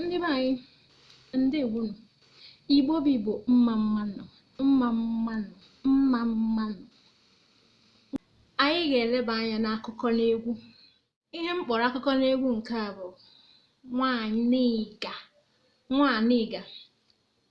ndị be anyị ndewonụ igbo bụ igbo mma mmanụ mma mmanụ mma mmanụ anyị ga-eleba anya n'akụkọ n'egwu ihe m kpọrọ akụkọ n'egwu nke a bụ nwanịga nwanịga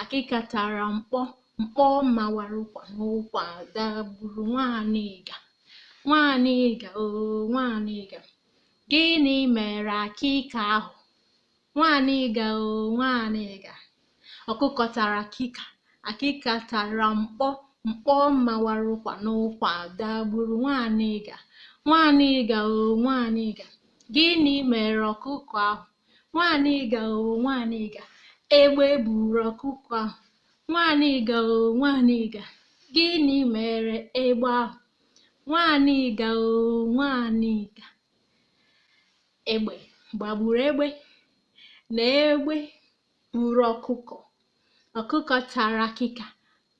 akịka tara mkpọ mkpọ mawara ụkwa n'ụkwa dagburu nwanịga nwanịga o nwanịga gịnị mere akịka ahụ nwanịga o nwanịga ọkụkọ tara akịka akịka tara mkpọ mkpọ mawara ụkwa n'ụkwa dagburu nwanịga nwanịga o nwanịga gịnị mere ọkụkọ ahụ nwanịga o nwanịga egbe buru ọkụkọ ahụ nwanịga o nwanịga gịnị mere egbe ahụ nwanịga o nwanịga egbe gbagburu egbe na egbe Buru ọkụkọ. Ọkụkọ tara akịka,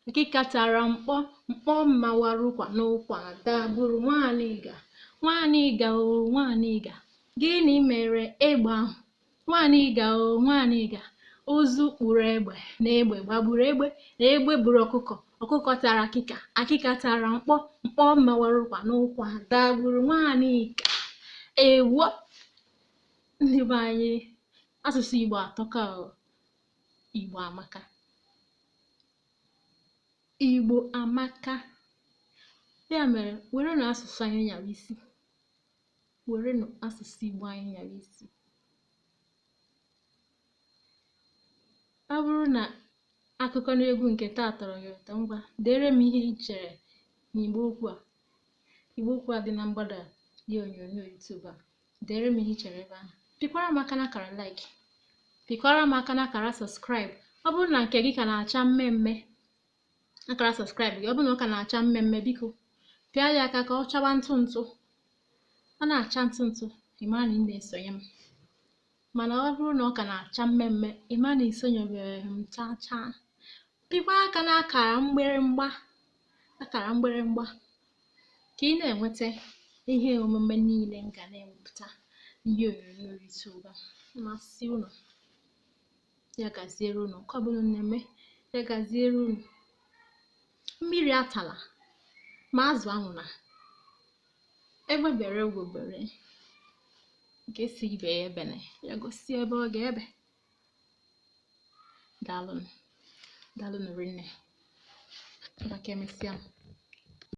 akịka tara mkpọ, mkpọ mawara ụkwa n'ụkwa dagburu Nwanịga. Nwanịga o Nwanịga, gịnị mere egbe ahụ? Nwanịga o Nwanịga, ụzụ kpụrụ egbe na egbe gbagburu egbe na egbe buru ọkụkọ. Ọkụkọ tara akịka, akịka tara mkpọ, mkpọ mawara ụkwa n'ụkwa dagburu Nwanịga. Ewo! ndị be anyị asụsụ igbo atọka o igbo amaka igbo amaka ya mere werenụ asụsụ anyị nyara isi werenụ asụsụ igbo anyị nyara isi ọ bụrụ na akụkọ n'egwu nke taa tọrọ gị ụtọ ngwa dere m ihe i chere n'igbe okwu a igbe okwu a dị na mgbada ihe onyonyo YouTube a dere m ihe i chere ebe ahụ pịkwara m aka n'akara like pịkwara m aka n'akara subscribe ọ bụrụ na nke gị ka na-acha mmee mmee akara subscribe gị ọ bụrụ na ọ ka na-acha mmee mmee biko pịa ya aka ka ọ chaba ntụ ntụ ọ na-acha ntụ ntụ ị mara na ị na-esonye m mana ọ bụrụ na ọ ka na-acha mmee mmee ị ma na i sonyebeghị m chaa chaa pịkwa aka n'akara mgbịrịmgba akara mgbịrịmgba ka ị na-enweta ihe omume niile m ga na-ewepụta ihe onyonyo YouTube ọ ga-amasị unu ya gaziere unu nke ọbụla unu na-eme ya gaziere unu mmiri atala ma azụ anwụla egbe bere ugo bere nke sị ibe ya ebene ya gosi ebe ọ ga-ebe daalụnụ daalụnụ rinne ma ka emesịa